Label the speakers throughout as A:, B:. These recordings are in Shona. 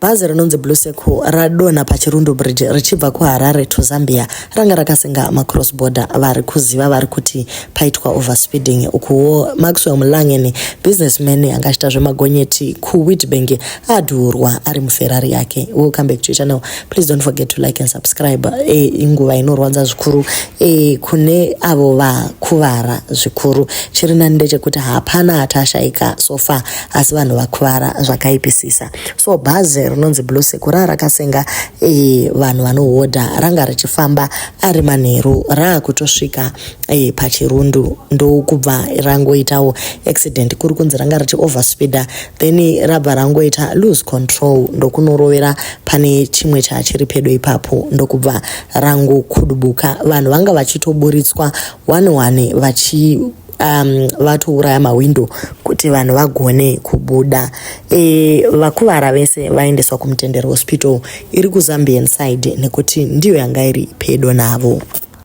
A: Bhazi rinonzi Blue Circle radonha paChirundu Bridge richibva kuHarare to Zambia ranga rakasenga macross border vari kuziva vari kuti paitwa overspeeding ukuwo Maxwell Mulangeni businessman anga achita zvemagonyeti kuWitbank adhurwa ari muFerrari yake. Welcome back to channel. Please don't forget to like and subscribe. E, inguva inorwadza zvikuru e, kune avo vakuvara zvikuru. Chiri nani ndechekuti hapana atashaika so far asi vanhu vakuvara zvakaipisisa so bhazi rinonzi blue sekura rakasenga e, vanhu vanohodha ranga richifamba ari manheru raakutosvika e, pachirundu ndokubva rangoitawo accident kuri kunzi ranga richi overspeeder then rabva rangoita lose control ndokunorovera pane chimwe chachiri pedo ipapo ndokubva rangokudubuka vanhu vanga vachitoburitswa one one vachi um, vatouraya mahwindo kuti vanhu vagone kubuda e, vakuvara vese vaendeswa kumutendero hospital iri kuzambian side nekuti ndiyo yanga iri pedo navo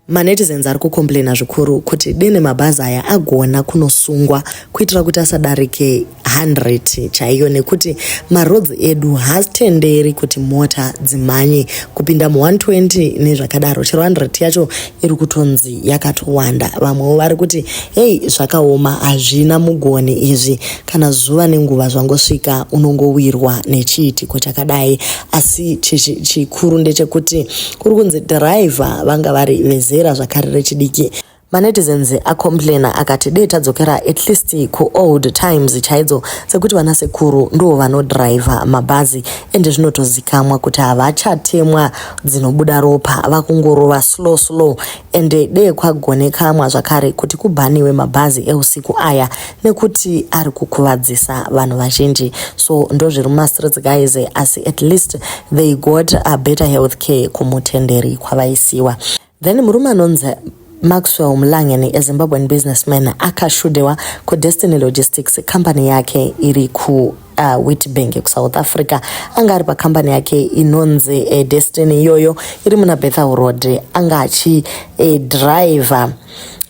A: manetizens ari kukomplaina zvikuru kuti dene mabhazi aya agona kunosungwa kuitira kuti asadarike 100 chaiyo nekuti maroads edu haatenderi kuti mota dzimhanye kupinda mu 120 nezvakadaro chero 100 yacho iri kutonzi yakatowanda vamwewo vari kuti hei zvakaoma hazvina mugoni izvi kana zuva nenguva zvangosvika unongowirwa nechiitiko chakadai asi chikuru ndechekuti kuri kunzi dhiraivha vanga vari vezera zvakare rechidiki Manetizens acomplainer akati dei tadzokera at least kuold times chaidzo dzekuti vana sekuru ndivo vanodriver mabhazi ende zvinotozikamwa kuti havachatemwa dzinobuda ropa vakungorova slow slow ende dei kwagonekamwa zvakare kuti kubhaniwe mabhazi eusiku aya nekuti ari kukuvadzisa vanhu vazhinji so ndozviri mumastreets guys asi at least they got a better health care kumutenderi kwavaisiwa Then murume anonzi Maxwell Mlangeni, a Zimbabwean businessman, akashudewa kuDestiny Logistics, company yake iri ku uh, witbank kusouth africa anga ari pakambani yake inonzi uh, eh, destiny iyoyo iri muna bethel road anga achidriver eh, uh,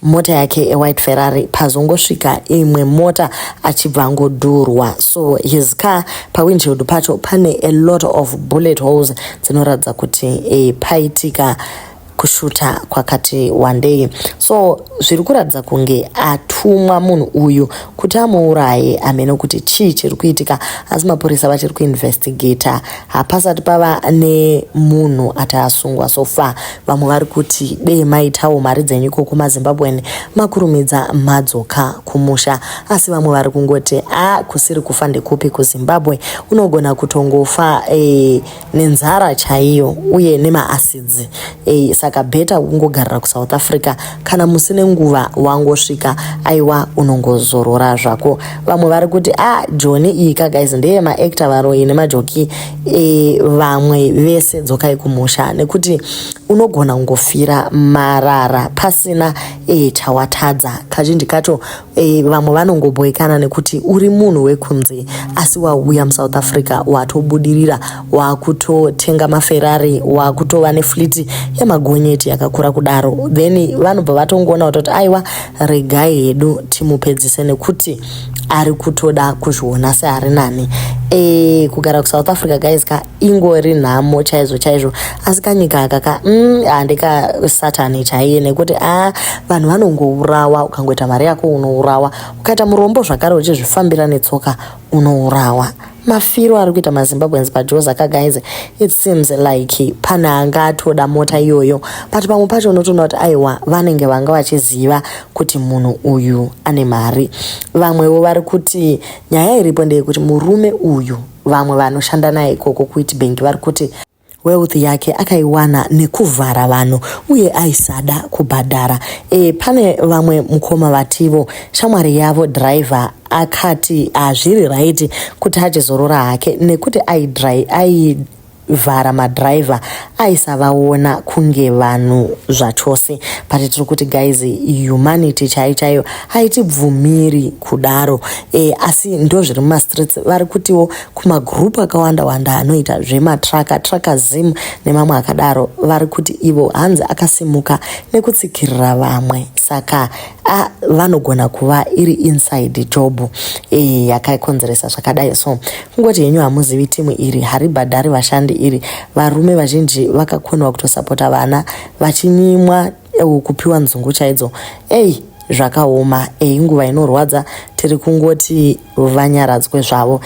A: mota yake ewhite ferrari pazongosvika imwe mota achibva angodurwa so his car pawindshield pacho pane a lot of bullet holes dzinoratidza kuti e, paitika kushuta kwakati wandei so zviri kuratidza kunge atumwa munhu uyu kuti amuuraye amene kuti chii chiri kuitika asi mapurisa vachiri kuinvestigata hapasati pava nemunhu ati asungwa so far Vamwe vari kuti dei maitawo mari dzenyu iko kumaZimbabwean makurumidza madzoka kumusha. Asi vamwe vari kungoti a kusiri kufa ndekupi kuZimbabwe unogona kutongofa e, nenzara chaiyo uye nemaasidzi e, saka bheta kungogarira kuSouth Africa kana musi nenguva wangosvika aiwa unongozorora zvako. Vamwe vari kuti a joni iyi ka guys ndeye maactor varoyi nemajoki e, vamwe vese dzokai kumusha nekuti unogona kungofira marara pasina e, chawatadza kazhinji kacho e, vamwe vanongoboekana nekuti uri munhu wekunze asi wauya musouth africa watobudirira wakutotenga maferrari wakutova nefliti yemagonyeti yakakura kudaro then vanobva vatongoona kutoti aiwa regai hedu timupedzise nekuti ari kutoda kuzviona seari nani e, kugara kusouth africa guys ka ingori nhamo chaizvo chaizvo asi kanyika aka ka mm, handika satani chaiye nekuti a ah, vanhu vanongourawa ukangoita mari yako unourawa ukaita murombo zvakare uchizvifambira netsoka unourawa mafiro ari kuita mazimbabweans pajoza ka guys it seems like pane anga atoda mota iyoyo but pamwe pacho unotoona kuti aiwa vanenge vanga vachiziva kuti munhu uyu ane mari vamwewo vari kuti nyaya iripo ndeyekuti murume uyu vamwe vanoshanda naye ikoko kuwitbank vari kuti Wealth yake akaiwana nekuvhara vanhu uye aisada kubhadhara. E, pane vamwe mukoma vativo shamwari yavo driver akati hazviri right kuti achizorora hake nekuti ai vhara madriver aisavaona kunge vanhu zvachose but tiri kuti guys humanity chai chaiyo haitibvumiri kudaro e, asi ndo zviri mumastreets vari kutiwo kumagroup akawanda wanda anoita zvematraka traka zim nemamwe akadaro vari kuti ivo hanzi akasimuka nekutsikirira vamwe saka a vanogona kuva iri inside job e, yakakonzeresa zvakadai so kungoti henyu hamuzivi timu iri haribhadhari vashandi iri varume vazhinji vakakoniwa kutosapota vana vachinyimwa eh, kupiwa nzungu chaidzo ei zvakaoma ei nguva inorwadza tiri kungoti vanyaradzwe zvavo.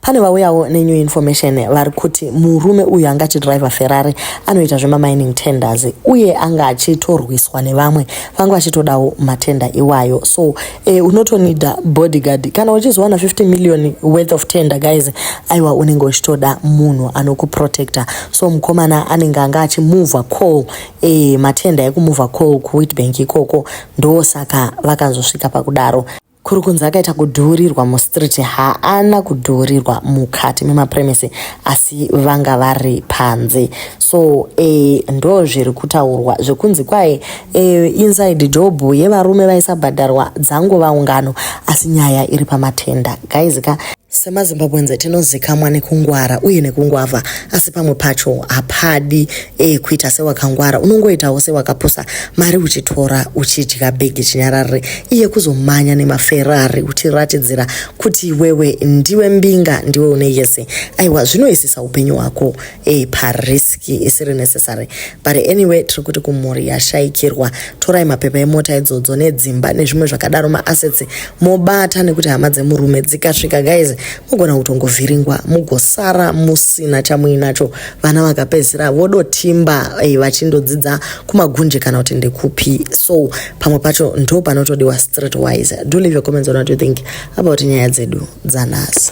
A: Pane vauyawo nenew information vari kuti murume uyu anga achidriver Ferrari anoita zvemamining tenders uye anga achitorwiswa nevamwe vanga vachitodawo matenda iwayo so eh, unotonida bodyguard kana uchizowana 50 million worth of tender guys aiwa unenge uchitoda munhu anokuprotector so mukomana anenge anga achimuvha call eh, matenda ekumuvha call kuwitbank ikoko ndosaka vakazosvika pakudaro Kuri kunzi akaita kudhuurirwa mustreet haana kudhuurirwa mukati memapremisi asi vanga vari panze so e, ndo zviri kutaurwa zvekunzi kwaye e, inside job yevarume vaisabhadharwa dzangova ungano asi nyaya iri pamatenda guys ka SemaZimbabweans tinozikamwa nekungwara uye nekungwavha asi pamwe pacho hapadi eh, kuita sewakangwara unongoitawo sewakapusa mari uchitora uchidya bhegi chinyararire iye kuzomanya nemaferari uchiratidzira kuti iwewe ndiwe mbinga ndiwe une yese aiwa zvinoisisa upenyu hwako hey, parisk isiri necessary but anyway tiri kuti kumhuri yashaikirwa torai mapepa emota idzodzo nedzimba nezvimwe zvakadaro maassets mobata nekuti hama dzemurume dzikasvika guys mogona kutongovhiringwa mugosara musina chamuinacho vana vakapedzisira vodotimba hey, vachindodzidza kumagunje kana kuti ndekupi so pamwe pacho ndo panotodiwa street wise do leave your comments on what you think about nyaya dzedu dzanhasi